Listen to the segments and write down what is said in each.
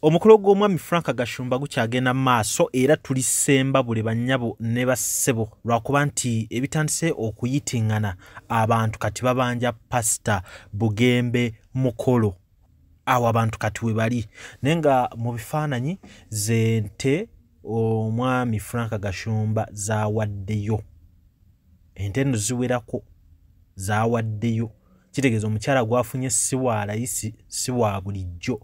omukolo gw'omwami frank gashumba gukyagenda mu maaso era tuli sembabule bannyabo ne bassebo lwakuba nti ebitandise okuyitingana abantu kati babanja pasita bugembe mukolo awo abantu kati we bali naye nga mu bifaananyi zente omwami frank gashumba zawaddeyo ente eno ziwerako zawaddeyo kitegeeza omukyala gwafunye si wa layisi si wa bulijjo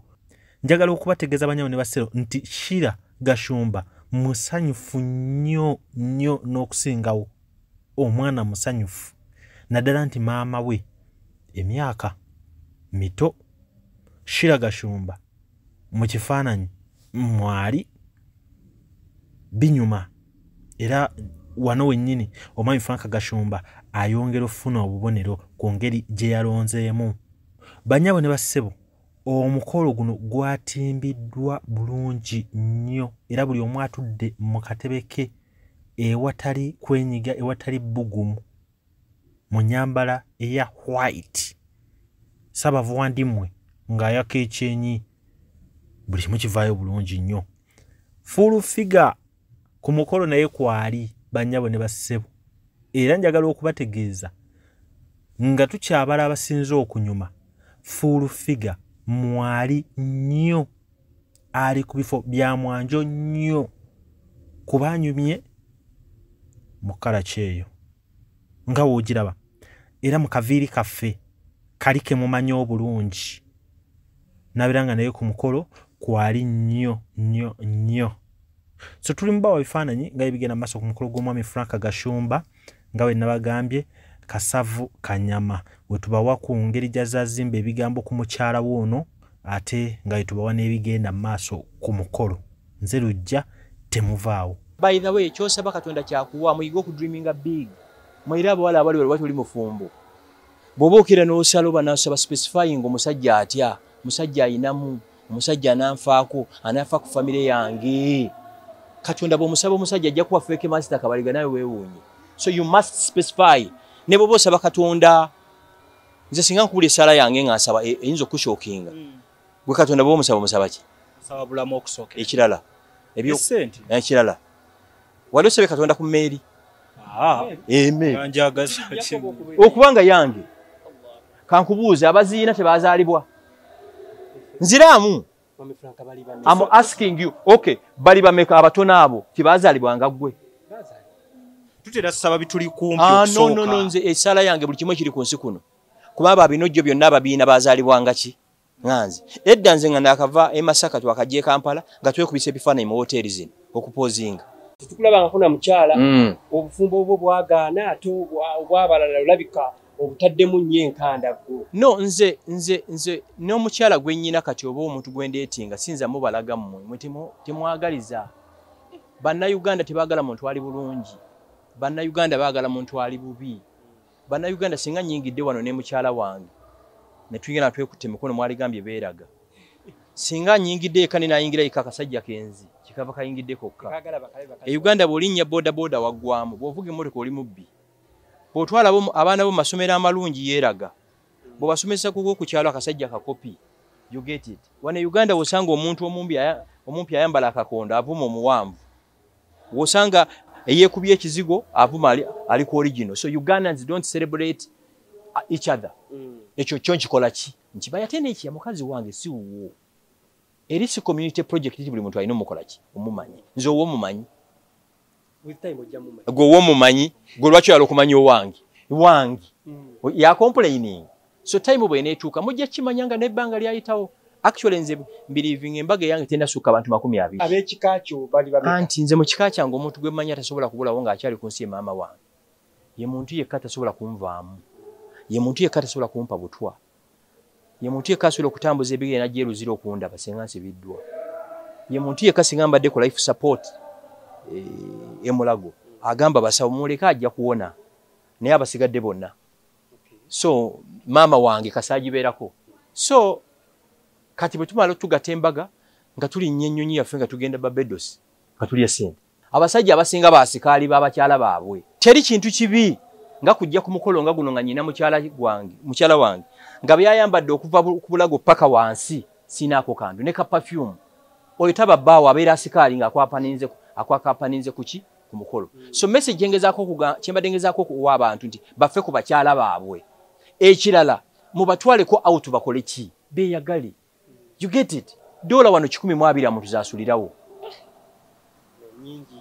njagala okubategeeza banyabo ne basero nti shira gashumba musanyufu nnyo nnyo n'okusingawo omwana musanyufu naddala nti maama we emyaka mito shira gashumba mu kifaananyi mwali binyuma era wano wennyini omwami frank gashumba ayongera okufuna obubonero ku ngeri gye yalonzeemu banyabo ne bassebo omukolo guno gwatimbiddwa bulungi nnyo era buli omu atudde mu katebe ke ewatali kwenyiga ewatali bbugumu mu nyambala eya white sabavuwandimwe ng'ayaka ekyenyi buli kimu kivaayo bulungi nnyo full figure ku mukolo naye kwali bannyabo ne bassebo era njagala okubategeeza nga tukyabala abasinze okunyuma fuulu figa mwali nnyo ali ku bifo bya mwanjo nnyo kuba anyumye mu kkala kyeyo nga woogiraba era mu kaviiri kaffe kali ke mumanyi obulungi nabeera nga naye ku mukolo kwali nnyo nnyo nnyo so tuli mubawa bifaananyi nga ebigenda maaso ku mukolo gw'omwami frank gashumba nga bwe nabagambye kasavu kanyama wetubawa ku ngeri gyazazimba ebigambo ku mukyala we ono ate nga wetubawa n'ebigenda maaso ku mukolo nze lujja temuvaawo by the way kyosaba katonda kyakuwa muyige okudreaminga big mwera abawala abali wali wati oli mufumbo bwoba okira n'osala oba nasaba specifying omusajja atya musajja ayinamu omusajja ananfaako anafa ku famire yange kati ondaba omusaba omusajja ajja kuba feeke masita kabaliga nawe weewuunye so you must specify ne bwoba osaba katonda nze singa nkubula esaala yange nga nsaba e, eyinza okushokinga hmm. gwe katonda bwomusaba omusaba ki ekirala ekirala wali osabye katonda ku meeri ah. okuba nga yange kankubuuza abaziina tebazaalibwa nziraamu am asking you ok bali bameka abatono abo tebazaalibwa nga ggwe tutera saba bituli kumpi ah, okusooka no no no nze esala yange buli kimu kiri ku nsi kuno kuba abo abinojjo byonna ababiina bazalibwa ngaki nganze edda nze nga nakava e Masaka twakajje Kampala nga twekubisa ebifaananyi mu hoteli zino okupozinga tukulaba nga kuna mukyala mm. obufumbo obwo bwagaana ate obwabalala olabika obutaddemu nnyo enkanda gwo no nze nze nze n'omukyala gwe nnyina kati oba omuntu gwe ndeetinga sinza mubalaga mmwe mwe temwagaliza bannayuganda tebaagala muntu ali bulungi bannayuganda baagala muntu ali bubi Bana Uganda singa nyingidde wano ne mukyala wange ne tuyina twekutte mikono mwali gambye beeraga singa nyingidde eka ne nayingira eka akasajja kenzi kikava kayingidde kokka e Uganda bwolinnya boda boda waggwamu bwovuga emmotoka oli mubbi bwotwala abaana bo masomero amalungi yeeraga bwobasomesa kuko ku kyalo akasajja kakopi you get it wano e Uganda wosanga omuntu omumpi ayambala akakondo avuma omuwanvu wosanga eyekubye ekizigo avuma ali, ali ku original so ugandans don't celebrate uh, each other mm. ekyo kyo nkikola ki nkibaye ate neki ya mukazi wange si wuwo eri si community project ti buli muntu alina omukola ki omumanyi nze owo omumanyi gwe owo omumanyi gwe lwaki oyala okumanya owange wange mm. yakomplaining so time bweneetuuka mujja kimanya nga nebbanga lyayitawo actually nze mbiriving embaga eyange tenasukka abantu makumi abiri abekika kyo bali babe anti nze mu kika kyange omuntu gwe manya tasobola kubulawo nga akyali ku nsi maama wange ye muntu yekka tasobola kunvaamu ye muntu yekka tasobola kumpa butwa ye muntu yekka asobola okutambuza ebigere nagyeruzira okundaba singa nsibiddwa ye muntu yekka singa mbadde ku life support eh, emulago agamba basawo muleke ajja kuwona naye abasigadde bonna so maama wange kasaagibeerako so kati bwe tumala otugata embaga nga tulinnya ennyonyi yaffe nga tugenda babedos nga tulya sente abasajja abasinga basikaali babakyala baabwe teri kintu kibi nga kujja ku mukolo nga guno nga nyina mukyala gwange mukyala wange nga byayambadde okuva ku bulago paka wansi sinaako kantu ne ka pafyumu oyo taba bbaawo abeera asikaali nga akwakapaninze ku ki ku mukolo so message gyengezako kyembadde ngezako okuwa abantu nti bafe ku bakyala baabwe ekirala mubatwaleko out bakole ki beyagali you get it dola wano kikumi mu abiri amuntu zasulirawo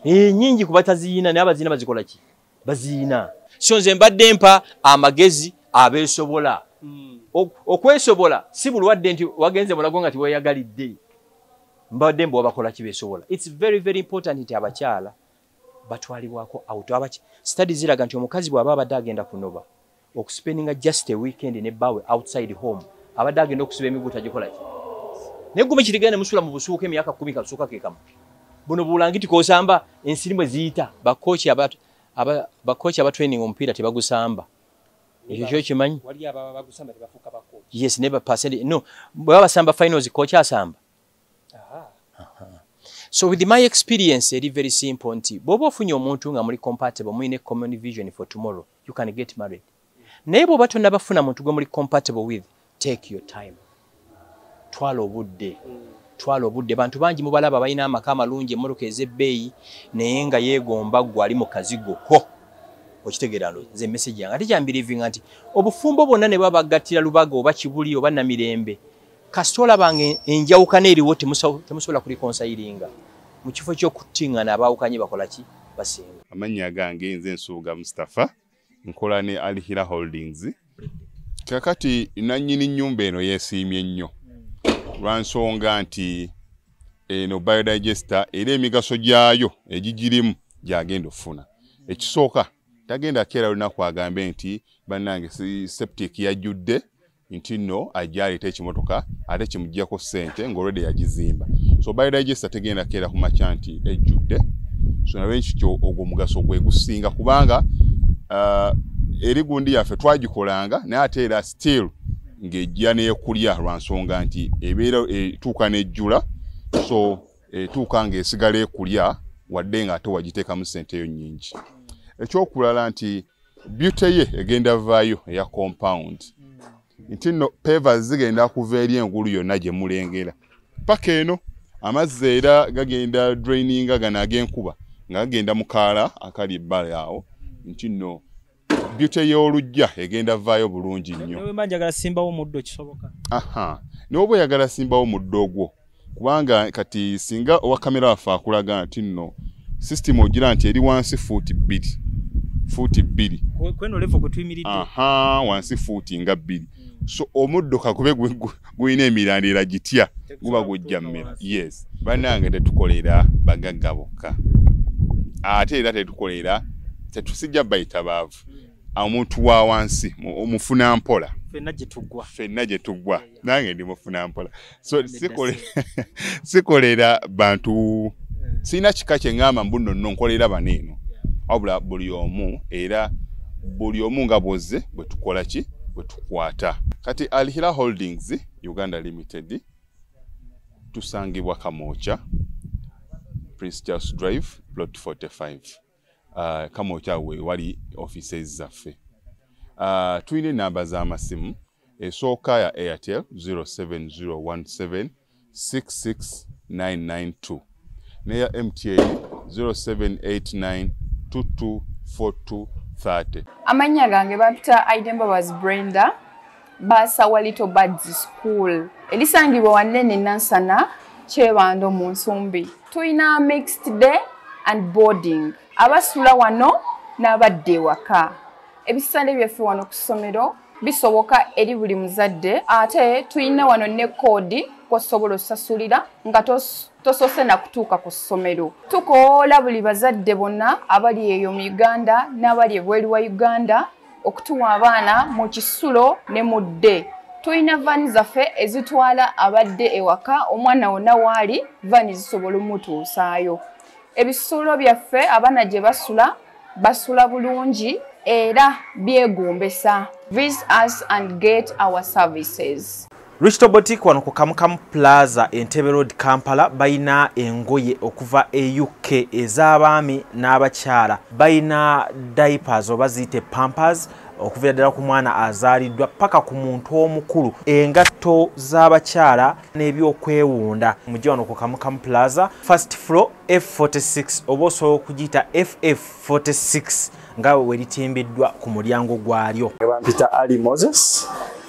nyingi eh, kuba taziyina naye abaziyina bazikola ki baziyina so nze mbadde mpa amagezi abeesobola hmm. okwesobola si bulwadde nti wagenze mulago nga tiweyagalidde mbabadde mbu wabakola kibesobola its very very important nti abakyala batwalibwako out abaki study ziraga nti omukazi bwaba abadde agenda kunoba okuspendinga just a weekend ne bawe outside home abadde agenda okusiba emiguta gikolaki naye gume kirigenda nemusula mu busuuka emyaka kumi kasuuka kekamu buno bulangiti kosamba ensirimwe ziyita bakoki aba bakoki aba training omupiira tebagusamba ekyo kyo kimanyi yes neba percent no bwebabasamba finals koki asamba so with my experience eri very simple nti bwoba ofunye omuntu nga muli compatible muyine common vision for tomorrow you can get married naye bwoba tonabafuna muntu gwe muli compatible with take your time twala obudde twala obudde bantu bangi mubalaba balina amaka amalungi emmotoka ez'ebbeeyi naye nga yeegomba gwe ali mu kazigo ko okitegeera lo nze emesegi yange ate kyambirivinga nti obufumbo bwonna ne baba bagattira lubaga oba kibuli oba namirembe kasita olaba nga enjawukana eriwo temusobola kulikonsayiringa mu kifo ky'okuttingana abaawukanye bakola ki basinga amannya gange nze nsuubuga mustapha nkola ne alhira holdings kakati nannyini nnyumba eno yeesiimye nnyo lwa nsonga nti eno biodigester era emigaso gyayo egigirimu gyagenda okufuna ekisooka tagenda keera lunaku agambe nti bannange septic yajjudde nti nno ajja aleeta ekimotoka ate kimuggyako ssente ng'olwedde yagizimba so by digesta tegenda keera ku makya nti ejjudde so nabe nkikyo ogwo omugaso gwe gusinga kubanga uh, eri gundi yaffe twagikolanga naye ate era still ng'ejja neekulya lwa nsonga nti ebeera etuuka n'ejjula so etuuka ng'esigala ekulya wadde ng'ate wagiteekamu ssente eyo nnyingi ekyokulala nti beauty ye egenda vaayo eya compound nti no peva zigenda kuva eri engulu yonna gye mulengera paka eno amazzi era gagenda draininga gano ag'enkuba nga gagenda mu kaala akali ebbali awo nti no beauty y'olujja egenda vaayo bulungi nnyo n'oba oyagala simbawo muddo ogwo kubanga kati singa owa kamera waffe akulaga nti nno sisitimu ogira nti eri wansi fuuti bbiri fuuti bbiri aha wansi fuuti nga bbiri hmm. so omuddo kakube gulina emirandira gitya guba gujja mmera yes banange tetukolera bagagga bokka ate era tetukolera tetusijja bayitabaavu hmm. omuntu wa wansi omufuna mpola fenna gye tuggwa fenna gye tuggwa nange ndi mufuna mpola so sikolera bantu eh. sirina kika kye ŋŋamba mbu nno nno nkolera bano eno wabula buli omu era buli omu nga bwozze bwe tukola ki bwe tukwata kati alhira holdings uganda limited tusangibwa kamooca prince charles drive plot 45 uh, kama okyawe wali offices zaffe uh, tulina enamba z'amasimu esooka ya airtel 07017 66992 neya mta 0789224230 amannya gange bampita aidembabazi brenda baasawa little birds school elisangibwa wanene nansana kyebando mu nsumbi tulina mixed day and boarding abasula wano n'abadda ewaka ebisale byaffe wano ku ssomero bisoboka eri buli muzadde ate tulina wano ne koodi kwosobola osasulira nga tosoose nakutuuka ku ssomero tukoola buli bazadde bonna abali eyo mu uganda n'abali ebweru wa uganda okutuwa abaana mu kisulo ne mu dde tulina vaani zaffe ezitwala abadde ewaka omwana wonna waali vaani zisobola omutuusaayo ebisulo byaffe abaana gye basula basula bulungi era byegombesa vis us and get our services Risto Boutique wano ku Kamukamu Plaza Entebbe Road Kampala bayina engoye okuva e UK ez'abaami n'abakyala bayina diapers oba ziyite pampers okuvira ddala ku mwana azaaliddwa paka ku muntu omukulu engatto z'abakyala n'ebyokwewunda mujja wano ku kamukamu plaza first floor f46 oba osobola okugiyita ff46 nga we litimbiddwa ku mulyango gwalyo. Bampita Ali Moses,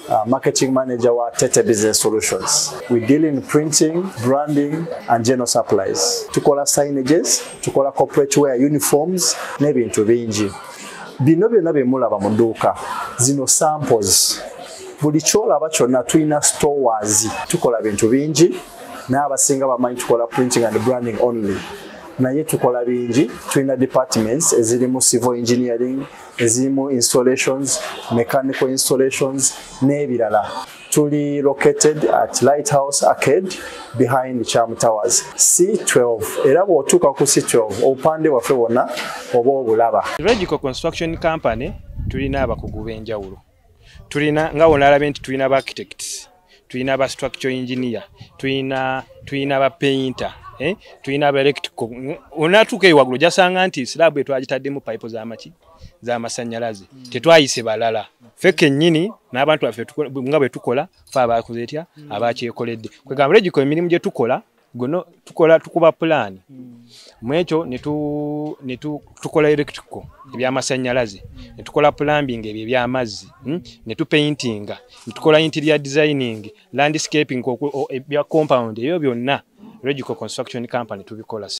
uh, marketing manager wa Tete Business Solutions. We deal in printing, branding and general supplies. Tukola signages, tukola corporate wear uniforms n'ebintu bingi. Bino byonna bye mulaba mu dduuka zino samples. Buli kyolaba kyonna tulina stores. Tukola bintu bingi n'abasinga bamanyi tukola printing and branding only. naye tukola bingi tulina departments ezirimu civil engineering ezirimu installations mechanical installations n'ebirala tuli located at lighthouse arcade behind cham towers c12 era bw'otuuka ku c12 obupande bwaffe bwonna oba obulaba regical construction company tulina abakugu b'enjawulo tulina nga wonalabye nti tulina ba architects tulina ba structure engineer tulina tulina ba painter eh? tulina ba electrical onatuuka eyo waggulu jasanga nti slab etwagitaddemu pipe zamaki zamasannyalaze mm. tetwayise balala fe kennyini n'abantu baffe nga bwe tukola fe abakoze etya mm. abakyekoledde kwegamba regiko emirimu gye tukola guno tukola tukuba pulaani hmm. mwekyo netukola electrical hmm. ebyamasanyalaze hmm. netukola plumbing ebyo ebyamazzi netupaintinga netukola interior designing landscaping ebya compound ebyo byonna regical construction company tubikola